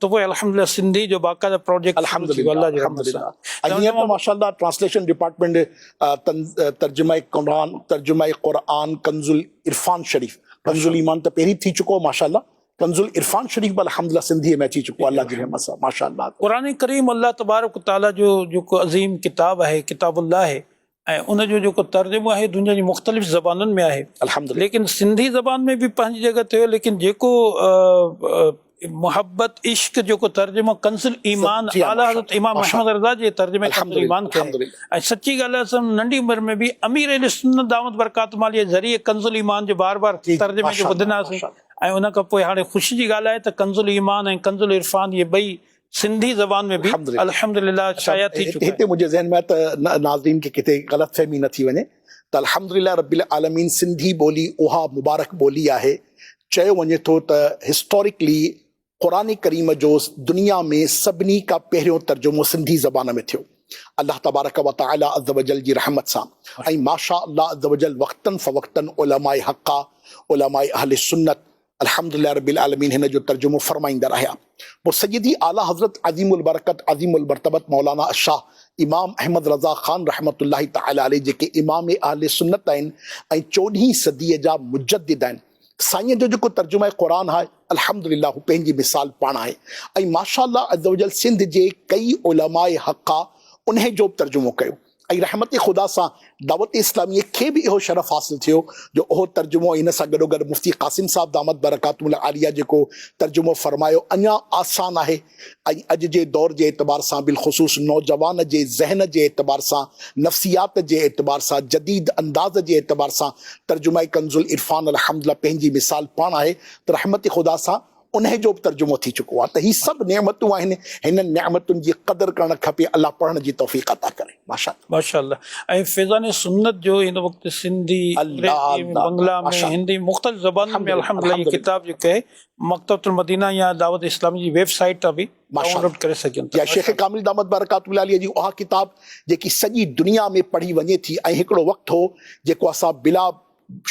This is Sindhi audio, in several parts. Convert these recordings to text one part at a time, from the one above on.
ته پوء الحمدلله سنڌي جو باقاعده پراجيڪٽ شروع ٿي ويو الله جي رحمت سان ۽ هينئر ته ماشاءالله ٽرانسليشن ڊپارٽمينٽ ترجمه قرآن ترجمه قرآن ڪنز العرفان شريف ڪنز الايمان ته پهرين ٿي چڪو ماشاءالله ڪنز العرفان شريف به الحمدلله سنڌي ۾ اچي چڪو الله جي رحمت سان ماشاءالله. قرآن ڪريم الله تبارڪ وتعاليٰ جو جيڪو عظيم ڪتاب آهي ڪتاب الله آهي ۽ ان جو جيڪو ترجمو آهي دنيا جي مختلف زبانن ۾ آهي الحمدلله ليڪن سنڌي زبان ۾ به پنهنجي جڳهه تي هو ليڪن جيڪو محبت عشق جيڪو ترجمو ڪنز الايمان اعليٰ حضرت امام احمد رضا جي ترجمي ڪنز الايمان کي ۽ سچي ڳالهه اسان ننڍي عمر ۾ به امير اهل سنت دعوت برڪات مالي ذريعي ڪنز الايمان جو بار بار ترجمي کي ٻڌندا سين ۽ ان کان پوء هاڻي خوشي جي ڳالهه آهي ته ڪنز الايمان ۽ ڪنز العرفان هي ٻئي سنڌي زبان ۾ به الحمد لله شايع ٿي چڪا آهن. هتي منهنجي ذهن ۾ آيو ته ناظرين کي ڪٿي غلط فهمي نه ٿي وڃي ته الحمد لله رب العالمين سنڌي ٻولي اها مبارڪ ٻولي آهي چيو وڃي ٿو ته هسٽوريڪلي قرآن ڪريم جو دنيا ۾ سڀني کان پهريون ترجمو سنڌي زبان ۾ ٿيو الله تبارڪ وتعالي عزّوجلّ جي رحمت سان ۽ ماشاء الله عزّوجلّ وقتاً فوقتاً علماء حقّ علماء اهل سنّت الحمد لله رب العالمين هن جو ترجمو فرمائيندڙ آهيا پوء سيدي اعليٰ حضرت عظيم البرڪت عظيم المرتبت مولانا الشاه امام احمد رضا خان رحمة الله تعالٰي عليه جيڪي امام اهل سنت آهن ۽ چوڏهين صديء جا مجدد آهن سائين جو جيڪو ترجمه قرآن آهي الحمد لله هو پنهنجي مثال پاڻ آهي ۽ ماشاء الله عزّ وجلّ سنڌ جي ڪئي علماء حقّا انهي جو به ترجمو ڪيو ۽ رحمت خدا سان دعوت اسلاميء کي به اهو شرف حاصل ٿيو جو اهو ترجمو ۽ ان سان گڏوگڏ مفتي قاسم صاحب دامت برڪاتهم العاليه جيڪو ترجمو فرمايو اڃا آسان آهي ۽ اڄ جي دور جي اعتبار سان بالخصوص نوجوان جي ذهن جي اعتبار سان نفسيات جي اعتبار سان جديد انداز جي اعتبار سان ترجمه ڪنزالعرفان الحمدلله پنهنجي مثال پاڻ آهي ته رحمت خدا سان انهي جو به ترجمو ٿي چڪو آهي ته هي سڀ نعمتون آهن هنن نعمتن جي قدر ڪرڻ کپي الله پڙهڻ جي توفيق عطا ڪري ماشاءالله. ماشاءالله ۽ فيضان سنت جو هن وقت سنڌي انگريزي بنگلا ۾ هندي مختلف زبانن ۾ الحمدلله هي ڪتاب جيڪو آهي مڪتبة المدينه يا دعوت اسلامي جي ويب سائيٽ تان به ڊائون لوڊ ڪري سگهجن ٿا شيخ ڪامل دامت برڪاته العاليه جي اها ڪتاب جيڪي سڄي دنيا ۾ پڙهي وڃي ٿي ۽ هڪڙو وقت هو جيڪو اسان بلا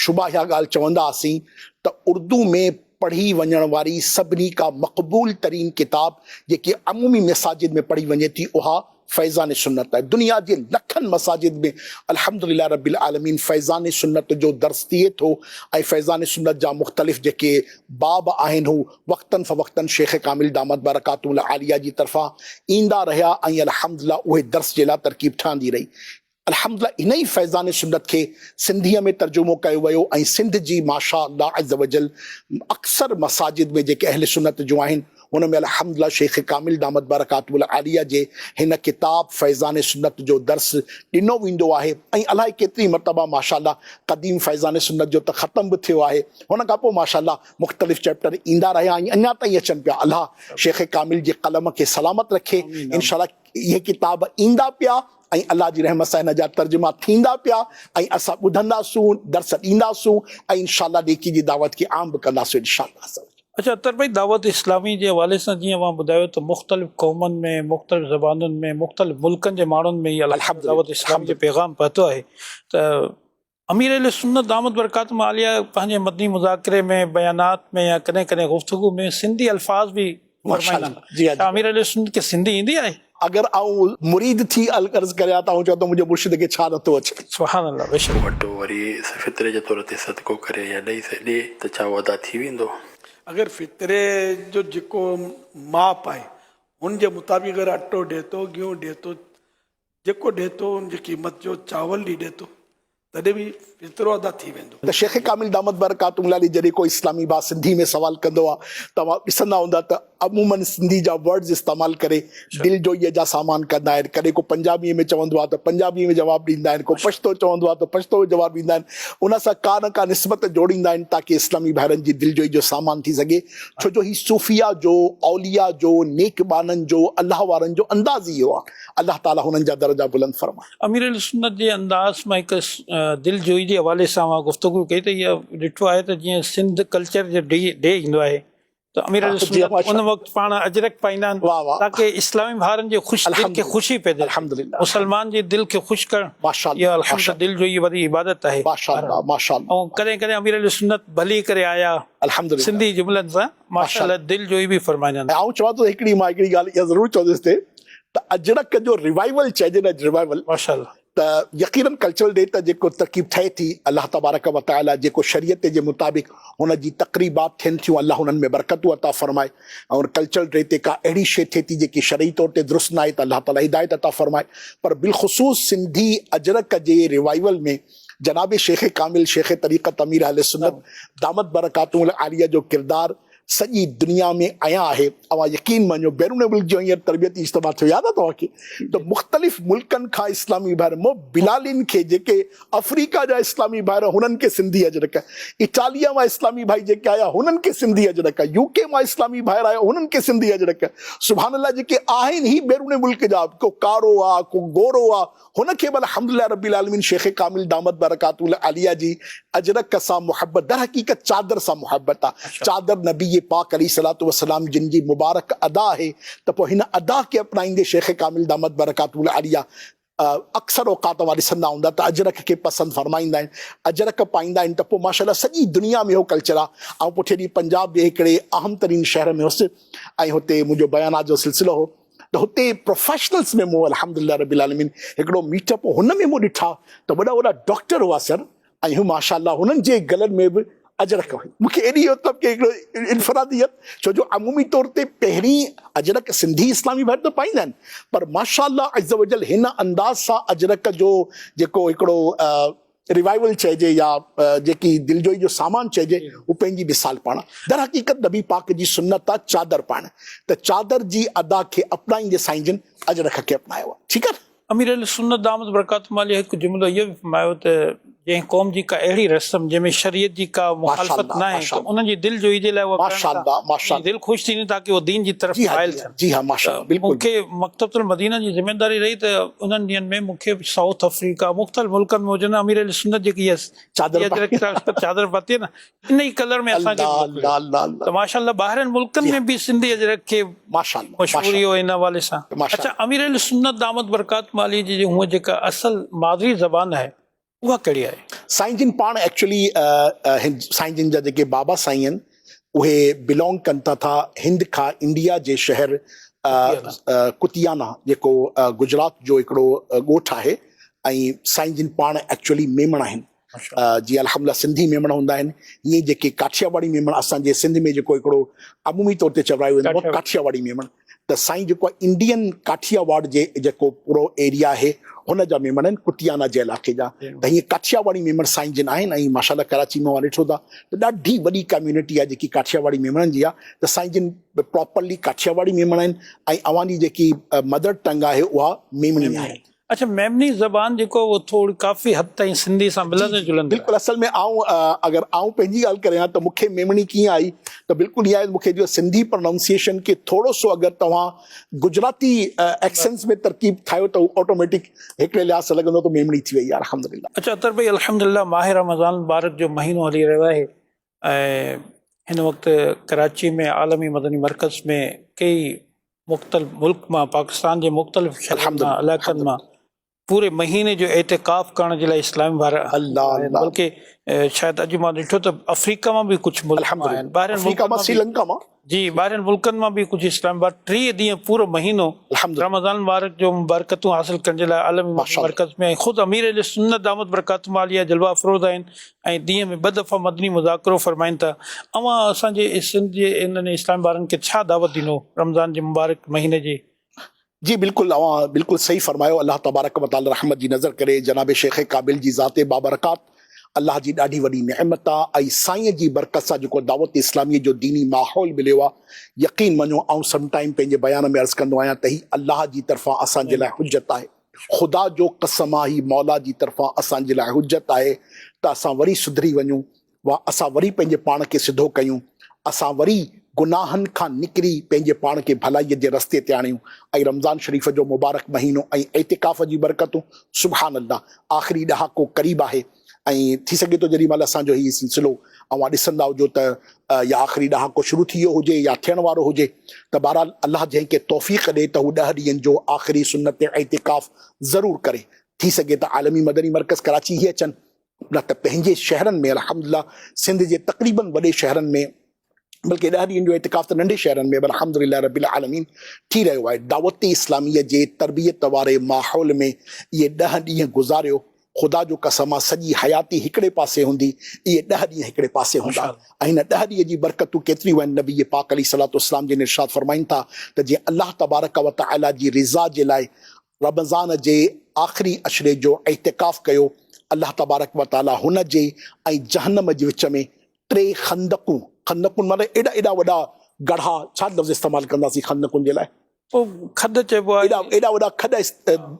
شبه اها ڳالهه چونداسين ته اردو ۾ پڙهي وڃڻ واري سڀني کان مقبول ترين ڪتاب جيڪي عمومي مساجد ۾ پڙهي وڃي ٿي اها فيضان سنت آهي دنيا جي لکن مساجد ۾ الحمدلله رب العالمين فيضان سنت جو درس ٿئي ٿو ۽ فيضان سنت جا مختلف جيڪي باب آهن هو وقتن فوقتن شيخ ڪامل دامت برڪاتهم العاليه جي طرفان ايندا رهيا ۽ الحمدلله اهي درس جي لاء ترڪيب ٺهندي رهي الحمدلله ان ئي فيضان سنت کي سنڌيء ۾ ترجمو ڪيو ويو ۽ سنڌ جي ماشاء الله عزّوجلّ اڪثر مساجد ۾ جيڪي اهل سنت جون آهن ان ۾ الحمدلله شيخ ڪامل دامت برڪاته العاليه جي هن ڪتاب فيضان سنت جو درس ڏنو ويندو آهي ۽ الائي ڪيتري مرتبه ماشاء الله قديم فيضان سنت جو ته ختم به ٿيو آهي ان کان پوء ماشاء الله مختلف چيپٽر ايندا رهيا ۽ اڃا تائين اچن پيا الله شيخ ڪامل جي قلم کي سلامت رکي انشاء الله اهي ڪتاب ايندا پيا ۽ الله جي رحمت سان هن جا ترجما ٿيندا پيا ۽ اسان ٻڌندا سون، درس ڏيندا سون ۽ انشاء الله نيڪي جي دعوت کي عام به ڪندا سون انشاء الله عزّ وجلّ. اچا اطهر ڀائي دعوت اسلامي جي حوالي سان جيئن اوهان ٻڌايو ته مختلف قومن ۾ مختلف زبانن ۾ مختلف ملڪن جي ماڻهن ۾ هي الحمدلله دعوت اسلامي جو پيغام پهتو آهي ته امير اهل سنت دامت برڪاتهم عاليه پنهنجي مدني مذاڪري ۾ بيانات ۾ يا ڪڏهن ڪڏهن گفتگو ۾ سنڌي الفاظ به ورتائيندا آهن. ڇا امير اهل سنت کي سنڌي ايندي آهي؟ اگر آئون مريد ٿي عرض ڪريان ته آئون چوان ته منهنجي مرشد کي ڇا نٿو اچي؟ سبحان الله بيشڪ. وٽ هو وري سي فطري جي طور تي صدقو ڪري يا ڏئي سي ڏي ته ڇا اهو ادا ٿي ويندو؟ اگر فطري جو جيڪو ماپ آهي ان جي مطابق اگر اٽو ڏي ٿو، گيهون ڏي ٿو، جيڪو ڏي ٿو ان جي قيمت جو چاول ڏي ڏي ٿو تڏهن به فطرو ادا ٿي ويندو. ته شيخ ڪامل دامت برڪاتهم العاليه جڏهن ڪو اسلامي ڀاء سنڌي ۾ سوال ڪندو آ توهان ڏسندا هوندا ته عموماً سنڌي جا ورڊز استعمال ڪري دلجوئيء جا سامان ڪندا آهن ڪڏهن ڪو پنجابيء ۾ چوندو آ ته پنجابيء ۾ جواب ڏيندا آهن ڪو پشتو چوندو آ ته پشتو ۾ جواب ڏيندا آهن ان سان ڪا نه ڪا نسبت جوڙيندا آهن تاڪه اسلامي ڀائرن جي دلجوئي جو سامان ٿي سگهي ڇو جو هي صوفيا جو اوليا جو نيڪ ٻانهن جو الله وارن جو انداز ئي اهو آ. الله تعالي هنن جا درجا بلند فرمائي. امير اهل سنت جي انداز مان هڪ دل جوئي جي حوالي سان اوهان گفتگو ڪئي ته اها ڏٺو آهي ته جيئن سنڌ ڪلچر جو ڊي ڊي ايندو آهي ته امير اهل سنت ان وقت پاڻ اجرڪ پائيندا آهن تاڪه اسلامي ڀائرن جي خوش دل کي خوشي پيدا ٿئي مسلمان جي دل کي خوش ڪرڻ اها الحمد دل جوئي واري عبادت آهي ۽ ڪڏهن ڪڏهن امير اهل سنت ڀلي ڪري آيا سنڌي جملن سان ماشاءالله دل جوئي به فرمائي جان. آئون چوان ٿو هڪڙي مان هڪڙي ڳالهه اها ضرور چوندس ته ته اجرڪ جو ريوائيول چئجي نه ريوائيول ماشاءالله. ته يقينن ڪلچرل ڊي ته جيڪو ترڪيب ٺهي ٿي الله تبارڪ و تعالي جيڪو شريعت جي مطابق هن جي تقريبات ٿين ٿيون الله انهن ۾ برڪتون عطا فرمائي ۽ ڪلچرل ڊي تي ڪا اهڙي شي ٿئي ٿي جيڪي شرعي طور تي درست ناهي ته الله تعالي هدايت عطا فرمائي پر بالخصوص سنڌي اجرڪ جي ريوائيول ۾ جناب شيخ ڪامل شيخ طريقت امير اهل سنت دامت برڪاتهم العاليه جو ڪردار سڄي دنيا ۾ عيان آهي اوهان يقين مڃيو بيرون ملڪ جو هينئر تربيتي اجتماع ٿيو ياد آهي توهان کي ته مختلف ملڪن کان اسلامي ڀائر مون بلالين کي جيڪي افريڪا جا اسلامي ڀائر هنن کي سنڌي اجرڪ اٽاليا مان اسلامي ڀائي جيڪي آيا هنن کي سنڌي اجرڪ يوڪي مان اسلامي ڀائر آيا هنن کي سنڌي اجرڪ سبحان الله جيڪي آهن هي بيرون ملڪ جا ڪو ڪارو آهي ڪو گورو آهي هن کي به الحمد لله رب العالمين شيخ ڪامل دامت برڪاته العاليه جي اجرڪ سان محبت در حقيقت چادر سان محبت آ چادر نبي پاڪ عليه الصلوة والسلام جن جي مبارڪ ادا آهي ته پوء هن ادا کي اپنائيندي شيخ ڪامل دامت برڪاته العاليه اڪثر اوقات اوهان ڏسندا هوندا ته اجرڪ کي پسند فرمائيندا آهن اجرڪ پائيندا آهن ته پوء ماشاءالله سڄي دنيا ۾ اهو ڪلچر آ آئون پٺئين ڏينهن پنجاب جي هڪڙي اهم ترين شهر ۾ هوس ۽ هتي منهنجو بيانات جو سلسلو هو ته هتي پروفيشنلز ۾ مون الحمد لله رب العالمين هڪڙو ميٽ اپ هن ۾ مون ڏٺا ته وڏا وڏا ڊاڪٽر هئا سر ۽ ماشاء الله هنن جي گلن ۾ به اجرڪ هئي مون کي ايڏي مطلب ڪي هڪڙو انفراديت ڇو جو عمومي طور تي پهرين اجرڪ سنڌي اسلامي ڀائر ته پائيندا آهن پر ماشاء الله عزّ وجلّ هن انداز سان اجرڪ جو جيڪو هڪڙو ريوائيول چئجي يا جيڪي دلجوئي جو سامان چئجي هو پنهنجي مثال پاڻ درحقيقت نبي پاڪ جي سنت آ چادر پائڻ ته چادر جي ادا کي اپنائيندي سائين جن اجرڪ کي اپنايو آ ٺيڪ آ. امير اهل سنت دامت برڪاتهم عليه هڪ جملو اهو به فرمايو ته جنهن قوم جي ڪا اهڙي رسم جنهن ۾ شريعت جي ڪا مخالفت ناهي ته انهن جي دلجوئي جي لاء اها ڪرڻ ته انهن جي دل خوش ٿيندي تاڪه اهو دين جي طرف مائل ٿين. جي ها ماشاء الله بلڪل مونکي مڪتبة المدينه جي ذميداري رهي ته انهن ڏينهن ۾ مونکي سائوٿ افريڪا مختلف ملڪن ۾ جن امير اهل سنت جي ڪي چادر چادر پاتي نه ان ئي ڪلر ۾ اسان کي ته ماشاء الله ٻاهرين ملڪن ۾ به سنڌي اجرڪ کي ماشاء الله مشهوري هو ان حوالي سان اچا امير اهل سنت دامت برڪات مالي جي هو جيڪا اصل مادري زبان آهي اها ڪهڙي آهي؟ سائين جن پاڻ ايڪچوئلي سائين جن جا جيڪي بابا سائين آهن اهي بلانگ ڪن ٿا ٿا هند کان انڊيا جي شهر ڪتيانا جيڪو گجرات جو هڪڙو ڳوٺ آهي ۽ سائين جن پاڻ ايڪچوئلي ميمڻ آهن جي الحمدلله سنڌي ميمڻ هوندا آهن هيئن جيڪي ڪاٺياواڙي ميمڻ اسان جي سنڌ ۾ جيڪو هڪڙو عمومي طور تي چورايو ويندو آهي ڪاٺياواڙي ميمڻ ته سائين جيڪو انڊين ڪاٺيا واڙ جي جيڪو پورو ايريا آهي هن جا ميمڻ آهن ڪتيانا جي علائقي جا ته هيئن ڪاٺيا واڙي ميمڻ سائين جن آهن ۽ ماشاء الله ڪراچي مان اوهان ڏٺو ٿا ته ڏاڍي وڏي ڪميونٽي آهي جيڪي ڪاٺيا واڙي ميمڻن جي آهي ته سائين جن پراپرلي ڪاٺيا واڙي ميمڻ آهن ۽ اوهان جي جيڪي مدر ٽنگ آهي اها ميمڻي آهي اڇا ميمني زبان جيڪو اهو ٿوري ڪافي حد تائين سنڌي سان جي ملندڙ جي جلندڙ بلڪل آهي. اصل ۾ آئون اگر آئون پنهنجي ڳالهه ڪريان ته مون کي ميمڻي ڪيئن آئي ته بلڪل ائين آهي مون کي جو سنڌي پرنائونسيئيشن کي ٿورو سو اگر توهان گجراتي ايڪسنس ۾ ترڪيب ٺاهيو ته هو آٽوميٽڪ هڪڙي لحاظ سان لڳندو ته ميمڻي ٿي وئي آهي الحمدلله. اچ عطر ڀائي الحمدلله ماهه رمضان مبارڪ جو مهينو هلي رهيو آهي ۽ هن وقت ڪراچي ۾ عالمي مدني مرڪز ۾ ڪيئي مختلف ملڪ مان پاڪستان جي مختلف شھرن مان علائقن مان پوري مهيني جو اعتڪاف ڪرڻ جي لاء اسلام وار بلڪه شايد اڄ مان ڏٺو ته آفريڪا مان به ڪجھ ملڪ مان آهن ٻاهرين ملڪن مان سريلنڪا مان جي ٻاهرين ملڪن مان به ڪجهه اسلام آباد ٽيهه ڏينهن پورو مهينو رمضان المبارڪ جو مبارڪتون حاصل ڪرڻ جي لاء عالمي مدني مرڪز ۾ ۽ خود امير اهل سنت دامت برڪاتهم عاليه جلوه افروز آهن ۽ ڏينهن ۾ ٻه دفعا مدني مذاڪرو فرمائن ٿا اوهان اسان جي سنڌ جي انهن اسلامي ٻارن کي ڇا دعوت ڏنو رمضان جي مبارڪ مهيني جي جي بلڪل اوهان بلڪل صحيح فرمايو الله تبارڪ و تعالي رحمت جي نظر ڪري جناب شيخ قابل جي ذات بابرڪات الله جي ڏاڍي وڏي نعمت آ ۽ سائين جي برڪت سان جيڪو دعوت اسلامي جو ديني ماحول مليو آ يقين مڃو آئون سم ٽائيم پنهنجي بيان ۾ عرض ڪندو آهيان ته هي الله جي طرفان اسان جي لاء حجت آهي خدا جو قسم آ هي مولا جي طرفان اسان جي لاء حجت آهي ته اسان وري سڌري وڃون واهه اسان وري پنهنجي پاڻ کي سڌو ڪيون، اسان وري گناهن کان نڪري پنهنجي پاڻ کي ڀلائيء جي رستي تي آڻيون ۽ رمضان شريف جو مبارڪ مهينو ۽ اعتڪاف جي برڪتون سبحان الله آخري ڏهاڪو قريب آهي ۽ ٿي سگهي ٿو جيڏي مهل اسان جو هي سلسلو اوهان ڏسندا هجو ته يا آخري ڏهاڪو شروع ٿي ويو هجي يا ٿيڻ وارو هجي ته بهرحال الله جنهن کي توفيق ڏي ته هو ڏهه ڏينهن جو آخري سنت اعتڪاف ضرور ڪري ٿي سگهي ته عالمي مدني مرڪز ڪراچي هي اچن نه ته پنهنجي شهرن ۾ الحمد لله سنڌ جي تقريبن وڏي شهرن ۾ بلڪه ڏهه ڏينهن جو اعتڪاف ته ننڍي شهرن ۾ به الحمد لله رب العالمين ٿي رهيو آهي دعوت اسلامي جي تربيت واري ماحول ۾ اهي ڏهه ڏينهن گذاريو خدا جو قسم آ سڄي حياتي هڪڙي پاسي هوندي اهي ڏهه ڏينهن هڪڙي پاسي هوندا ۽ هن ڏهه ڏينهن جي برڪتون ڪيتريون آهن نبي پاڪ عليه صلات اسلام جن ارشاد فرمائين ٿا ته جي الله تبارڪ وتعالي جي رضا جي لاء رمضان جي آخري عشري جو اعتڪاف ڪيو، الله تبارڪ و تعاليٰ هن جي ۽ جهنم جي وچ ۾ ٽي خندقون، خندقون معنيٰ ايڏا ايڏا وڏا ڳڙها، ڇا لفظ استعمال ڪنداسين خندقن جي لاء؟ کڏ چئبو آهي. ايڏا ايڏا وڏا کڏ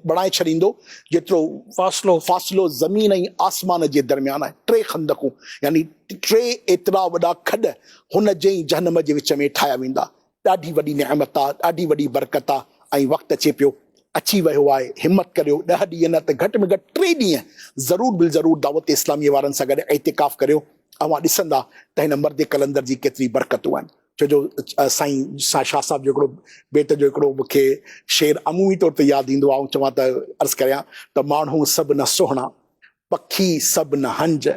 بڻائي ڇڏيندو جيترو فاصلو فاصلو زمين ۽ آسمان جي درميان آهي. ٽي خندقون يعني ٽي ايترا وڏا کڏ هن جي ۽ جهنم جي وچ ۾ ٺاهيا ويندا. ڏاڍي وڏي نعمت آ، ڏاڍي وڏي برڪت آ ۽ وقت اچي پيو، اچي ويو آهي، همت ڪريو، ڏهه ڏينهن نه ته گهٽ ۾ گهٽ ٽي ڏينهن ضرور بالضرور دعوت اسلاميء وارن سان گڏ اعتڪاف ڪريو، اوهان ڏسندا ته هن مرد قلندر جي ڪيتري برڪتون آهن. ڇو جو سائين شاهه صاحب جو هڪڙو بيت جو هڪڙو مون کي شعر عمومي طور تي ياد ايندو آ، آئون چوان ته عرض ڪريان ته ماڻهو سڀ نه سهڻا، پکي سڀ نه هنج،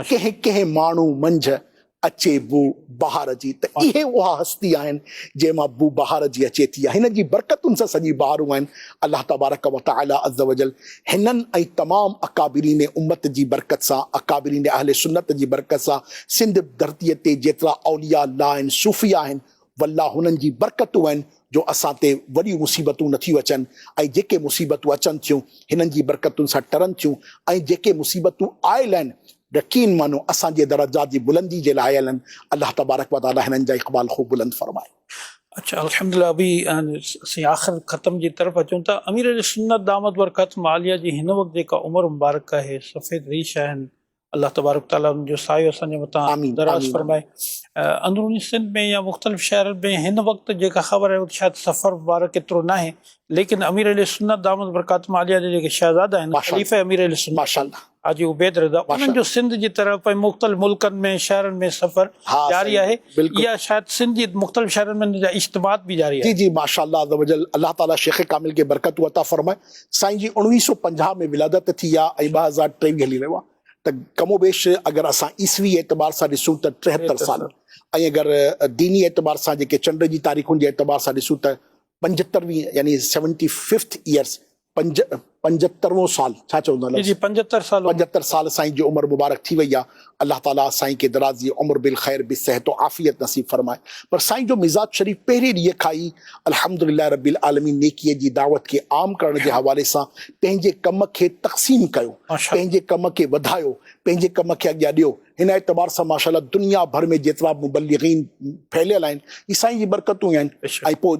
ڪنهن ڪنهن ماڻهو منجهه اچي بو بهار جي ته اهي اها هستي آهن جنهن مان بو بهار جي اچي ٿي ۽ هن جي برڪتن سان سڄي بهارون آهن الله تبارڪ و تعالي عزّوجلّ هنن ۽ تمام اڪابرين امّت جي برڪت سان اڪابرين اهل سنّت جي برڪت سان سنڌ ڌرتي تي جيترا اولياء الله آهن صوفياء آهن والله هنن جي برڪتون آهن جو اسان تي وڏيون مصيبتون نه ٿيون اچن ۽ جيڪي مصيبتون اچن ٿيون هنن جي برڪتن سان ٽرن ٿيون ۽ جيڪي مصيبتون آيل آهن رقين معنو اسان جي درجات جي بلندي جي لاء آيل آهن الله تبارڪ وتعالي هنن جا اقبال خوب بلند فرمائي. اچا الحمد لله ابي اسين آخر ختم جي طرف اچون ٿا امير اهل سنت دامت برڪاتهم عاليه جي هن وقت جيڪا عمر مبارڪ آهي سفيد ريش آهن الله تبارڪ تعالي ان جو سايو اسان جي مٿان آمين دراز آمين فرمائي اندروني سنڌ ۾ يا مختلف شهرن ۾ هن وقت جيڪا خبر آهي اهو شايد سفر مبارڪ ايترو ناهي ليڪن امير اهل سنت دامت برڪاتهم عاليه جا جيڪي شهزادا آهن ماشاء خليفه امير اهل سنت ماشاء الله حاجي عبيد رضا ماشاء انهن جو الله سنڌ جي طرف ۽ مختلف ملڪن ۾ شهرن ۾ سفر ها جاري سائين آهي بلڪل يا شايد سنڌ جي مختلف شهرن ۾ ان جا اجتماعات به جاري جي آهن جي ماشاء الله عزّ وجلّ الله تعالي شيخ ڪامل کي برڪتون عطا فرمائي سائين جي اڻويهه سؤ پنجاهه ۾ ولادت ٿي آ ۽ ٻه هزار ٽيويهه هلي رهيو آ ته ڪم و بيش اگر اسان عيسوي اعتبار سان ڏسون ته ٽيهتر سال ۽ اگر ديني اعتبار سان جيڪي چنڊ جي تاريخن جي اعتبار سان ڏسون ته پنجهتروين يعني سيونٽي ففٿ ايئرس پنج پنجهتروون سال ڇا چوندو جي جي پنجهتر سال پنجهتر سال سائين جي عمر مبارڪ ٿي وئي آ الله تعالي سائين کي درازي عمر بالخير به صحت و عافيت نصيب فرمائي پر سائين جو مزاج شريف پهرين ڏينهن کان ئي الحمدلله رب العالمين نيڪي جي دعوت کي عام ڪرڻ جي حوالي سان پنهنجي ڪم کي تقسيم ڪيو پنهنجي ڪم کي وڌايو پنهنجي ڪم کي اڳيان ڏيو هن اعتبار سان ماشاءالله دنيا ڀر ۾ جيترا به مبلغين ڦهليل آهن اهي سائين جي برڪتون ئي آهن ۽ پوء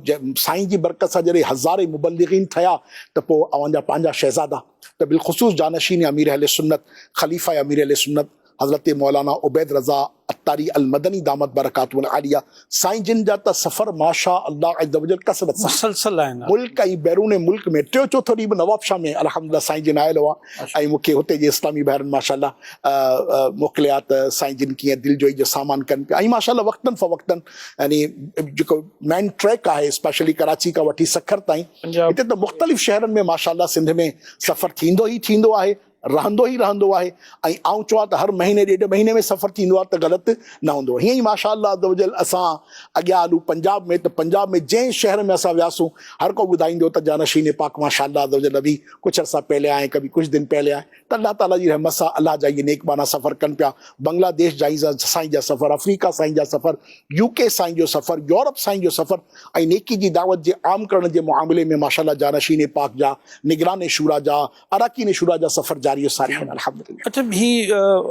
سائين جي برڪت سان جڏهن هزارين مبلغين ٺهيا ته پوء اوهان جا پنهنجا شهزادا ته بالخصوص جانشين امير اهل سنت خليفه امير اهل سنت حضرت مولانا عبيد رضا عطاري المدني دامت برڪاته العاليه سائين جن جا ته سفر ماشاء الله عزّوجلّ ڪثرت سان مسلسل آهن ملڪ ۽ بيرون ملڪ ۾ ٽيو چوٿو ڏينهن به نوابشاهه ۾ الحمدلله سائين جن آيل هئا ۽ مون کي هتي جي اسلامي ڀائرن ماشاء الله موڪليا ته سائين جن ڪيئن دلجوئي جو سامان ڪن پيا ۽ ماشاء الله وقتن فوقتن يعني جيڪو مين ٽريڪ آهي اسپيشلي ڪراچي کان وٺي سکر تائين هتي ته مختلف شهرن ۾ ماشا الله سنڌ ۾ سفر ٿيندو ئي ٿيندو آهي رهندو ئي رهندو آهي ۽ آئون چوان ته هر مهيني ڏيڍ مهيني ۾ سفر ٿيندو آهي ته غلط نه هوندو هيئن ئي ماشا الله عزّوجلّ اسان اڳيان هلون پنجاب ۾ ته پنجاب ۾ جنهن شهر ۾ اسان وياسون هر ڪو ٻڌائيندو ته جانشين پاڪ ماشا الله عزّوجلّ ابي ڪجھ عرصه پهلي آئي ڪبي ڪجھ دن پهلي آئي ته الله تعاليٰ جي رحمت سان الله جا اهي نيڪ ٻانها سفر ڪن پيا، بنگلا ديش جائين سائين جا سفر، آفريڪا سائين جا سفر، يو ڪي سائين جو سفر، يورپ سائين جو سفر ۽ نيڪي جي دعوت جي عام ڪرڻ جي معاملي ۾ ماشاء الله جانشين پاڪ جا، نگران شوريٰ جا، اراڪين شوريٰ جا سفر جاري و ساري آهن الحمد لله. اچا هي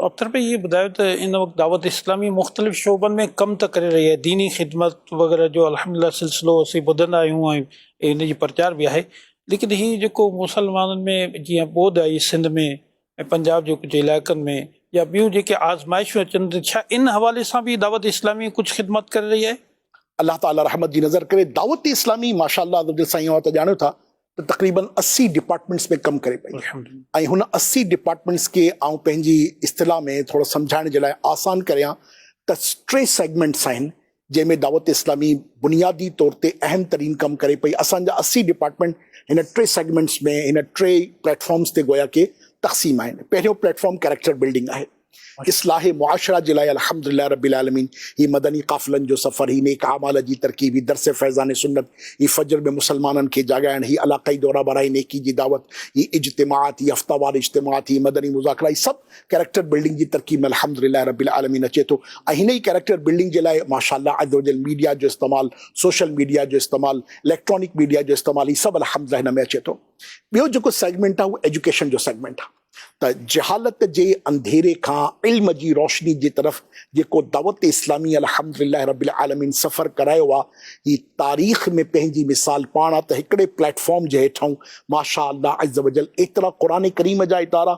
اختر ڀائي هي ٻڌايو ته ان وقت دعوت اسلامي مختلف شعبن ۾ ڪم ته ڪري رهي آهي ديني خدمت وغيره جو الحمد لله سلسلو اسين ٻڌندا آهيون ۽ ان جي پرچار به آهي ليڪن هي جيڪو مسلمانن ۾ جيئن ٻوڏ آئي سنڌ ۾ ۽ پنجاب جي ڪجهه علائقن ۾ يا ٻيون جيڪي آزمائشون اچن ٿيون ڇا ان حوالي سان به دعوت اسلامي ڪجهه خدمات ڪري رهي آهي؟ الله تعالي رحمت جي نظر ڪري دعوت اسلامي ماشاء الله عزوجل سائين اوهان ته ڄاڻيو ٿا ته تقريبن اسي ڊپارٽمينٽس ۾ ڪم ڪري پئي ۽ هن اسي ڊپارٽمينٽس کي آئون پنهنجي اصطلاح ۾ ٿورو سمجهائڻ جي لاء آسان ڪريان ته ٽي سيگمينٽس آهن جنهن ۾ دعوت اسلامي بنيادي طور تي اهم ترين ڪم ڪري پئي، اسان جا اسي ڊپارٽمينٽ هن ٽي سيگمينٽس ۾ هن ٽي پليٽ فارمز تي گويا ڪي تقسيم آهن، پهريون پليٽ فارم ڪيريڪٽر بلڊنگ آهي، اصلاح معاشره جي لاء الحمدلله رب العالمين هي مدني قافلن جو سفر، هي نيڪ اعمال جي ترڪيب، هي درس فيضان سنت، هي فجر ۾ مسلمانن کي جاڳائڻ، هي علاقائي دورا برائي نيڪي جي دعوت، هي اجتماعات، هي هفتوار اجتماعات، هي مدني مذاڪرا، هي سڀ ڪيريڪٽر بلڊنگ جي ترقي ۾ الحمد لله رب العالمين اچي ٿو ۽ هن ئي ڪيريڪٽر بلڊنگ جي لاء ماشاء الله عزّوجلّ ميڊيا جو استعمال، سوشل ميڊيا جو استعمال، اليڪٽرانڪ ميڊيا جو استعمال هي سڀ الحمد لله هن ۾ اچي ٿو. ٻيو جيڪو سيگمينٽ آهي اهو ايجوڪيشن جو سيگمينٽ آهي ته جهالت جي انڌيري کان علم جي روشني جي طرف جيڪو دعوت اسلامي الحمد لله رب العالمين سفر ڪرايو آهي هي تاريخ ۾ پنهنجي مثال پاڻ آهي ته هڪڙي پليٽ فارم جي هيٺئون ماشاء الله عزّوجلّ ايترا قرآن ڪريم جا ادارا،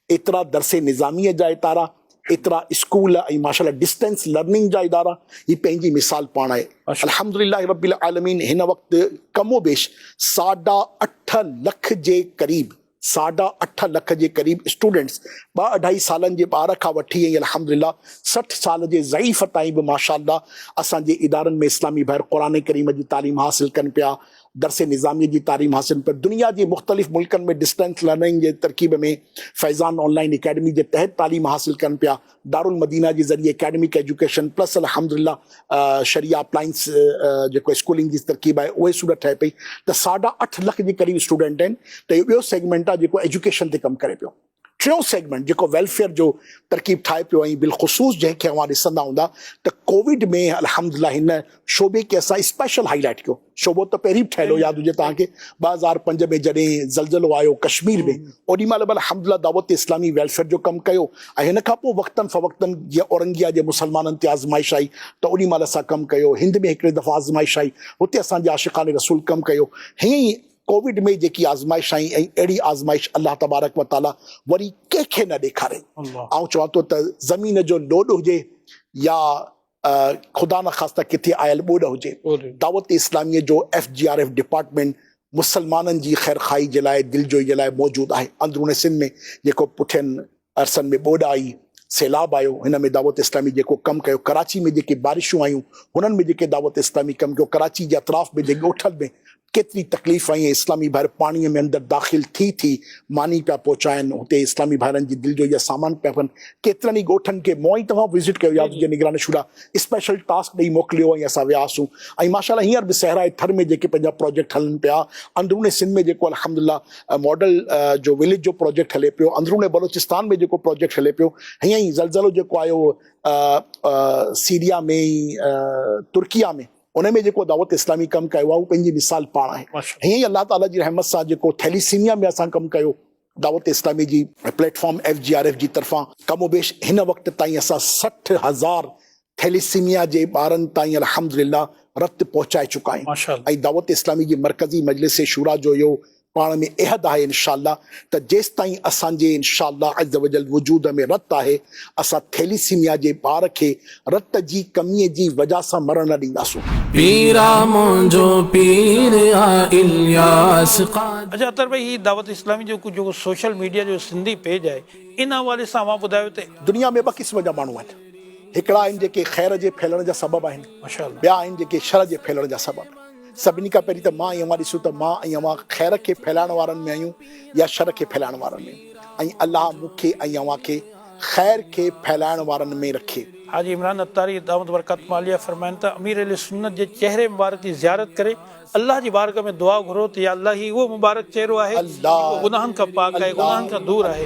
ايترا درسي نظاميء جا اتارا، ايترا اسڪول ۽ ماشاء الله ڊسٽنس لرننگ جا ادارا، هي پنهنجي مثال پاڻ آهي. الحمد لله رب العالمين هن وقت ڪم و بيش ساڍا اٺ لک جي قريب ساڍا اٺ لک جي قريب اسٽوڊنٽس ٻه اڍائي سالن جي ٻار کان وٺي ۽ الحمد لله سٺ سال جي ضعيف تائين به ماشاء الله اسان جي ادارن ۾ اسلامي ڀائر قرآن ڪريم جي تعليم حاصل ڪن پيا درس نظاميء جي تعليم حاصل پڻ دنيا جي مختلف ملڪن ۾ ڊسٽنس لرننگ جي ترڪيب ۾ فيضان آن لائين اڪيڊمي جي تحت تعليم حاصل ڪن پيا. دارالمدينه جي ذريعي اڪيڊمڪ ايجوڪيشن پلس الحمدالله شريعه اپلائنس جيڪو اسڪولنگ جي ترڪيب آهي اهي صورت ٺهي پئي ته ساڍا اٺ لک جي قريب اسٽوڊنٽ آهن ته اهو ٻيو سيگمينٽ آهي جيڪو ايجوڪيشن تي ڪم ڪري پيو. ٽيون سيگمينٽ جيڪو ويلفيئر جو ترڪيب ٺاهي پيو ۽ بالخصوص جنهن کي اوهان ڏسندا هوندا ته ڪووڊ ۾ الحمدلله هن شعبي کي اسان اسپيشل هائي لائيٽ ڪيو شعبو ته پهرين به ٺهيل هو ياد هجي توهان کي ٻه هزار پنج ۾ جڏهن زلزلو آيو ڪشمير ۾ اوڏي مهل به الحمدلله دعوت اسلامي ويلفيئر جو ڪم ڪيو ۽ هن کان پوء وقتن فوقتن جيئن اورنگيا جي مسلمانن تي آزمائش آئي ته اوڏي مهل اسان ڪم ڪيو هند ۾ هڪڙي دفعي آزمائش آئي هتي اسان جي عاشقان رسول ڪم ڪيو هيئن ئي ڪووڊ ۾ جيڪي آزمائش آئي ۽ اهڙي آزمائش الله تبارڪ و تعاليٰ وري ڪنهن کي نه ڏيکاري. آئون چوان ٿو ته زمين جو لوڏ هجي يا خدا نخواسته ڪٿي آيل ٻوڏ هجي، دعوت اسلاميء جو F G R F department مسلمانن جي خيرخواهي جي لاء، دلجوئي جي لاء موجود آهي. اندرون سنڌ ۾ جيڪو پٺين عرصن ۾ ٻوڏ آئي، سيلاب آيو، هن ۾ دعوت اسلامي جيڪو ڪم ڪيو، ڪراچي ۾ جيڪي بارشون آيون، هنن ۾ جيڪي دعوت اسلامي ڪم ڪيو، ڪراچي جي اطراف ۾ جي ڳوٺن ۾ ڪيتري تڪليف آئي ۽ اسلامي ڀائر پاڻيء ۾ اندر داخل ٿي ٿي ماني پيا پهچائن، هتي اسلامي ڀائرن جي دلجوئي جا سامان پيا ڦن، ڪيترن ئي ڳوٺن کي مون ۽ توهان وزٽ ڪيو يا جي نگران شورا اسپيشل ٽاسڪ ڏئي موڪليو ۽ اسان وياسون ۽ ماشاءالله هينئر به صحرائي ٿر ۾ جيڪي پنهنجا پراجيڪٽ هلن پيا، اندروني سنڌ ۾ جيڪو الحمدلله ماڊل جو وليج جو پروجيڪٽ هلي پيو اندرون بلوچستان ۾ جيڪو پروجيڪٽ هلي پيو هيئن ئي زلزلو جيڪو آيو سيريا ۾ ترڪيا ۾ ان ۾ جيڪو دعوت اسلامي ڪم ڪيو آهي اهو پنهنجي مثال پاڻ آهي هيئن ئي الله تعالي جي رحمت سان جيڪو ٿيليسيميا ۾ اسان ڪم ڪيو دعوت اسلامي جي platform F G R F جي طرفان ڪم و بيش هن وقت تائين اسان سٺ هزار ٿيليسيميا جي ٻارن تائين الحمدلله رت پهچائي چڪا آهيون ماشاء الله. ۽ دعوت اسلامي جي مرڪزي مجلس شورا جو اهو پاڻ ۾ عهد آهي انشاء الله ته جيستائين اسان جي انشاء الله عزّوجلّ وجود ۾ رت آهي اسان ٿيليسيميا جي ٻار کي رت جي ڪميء جي وجه سان مرڻ نه ڏينداسون. پيرا منهنجو پير آ الياس قادري. اچا اطهر ڀائي هي دعوت اسلامي جو جيڪو سوشل ميڊيا جو سنڌي پيج آهي ان حوالي سان اوهان ٻڌايو ته. دنيا ۾ ٻه قسم جا ماڻهو آهن. هڪڙا آهن جيڪي خير جي ڦهلڻ جا سبب آهن ٻيا آهن جيڪي شر جي ڦهلڻ جا سبب آهن سڀني کان پهرين ته مان ۽ اوهان ڏسون ته مان ۽ اوهان خير کي ڦهلائڻ وارن ۾ آهيون يا شر کي ڦهلائڻ وارن ۾ ۽ الله مون کي ۽ اوهان کي خير کي ڦهلائڻ وارن ۾ رکي. حاجي عمران عطاري دائمت برڪاتهم عاليه فرمائن ته امير اهل سنت جي چهري مبارڪ جي زيارت ڪري الله جي بارگاهه ۾ دعا گهرو ته يا الله هي اهو مبارڪ چهرو آهي جيڪو گناهن کان پاڪ آهي گناهن کان دور آهي.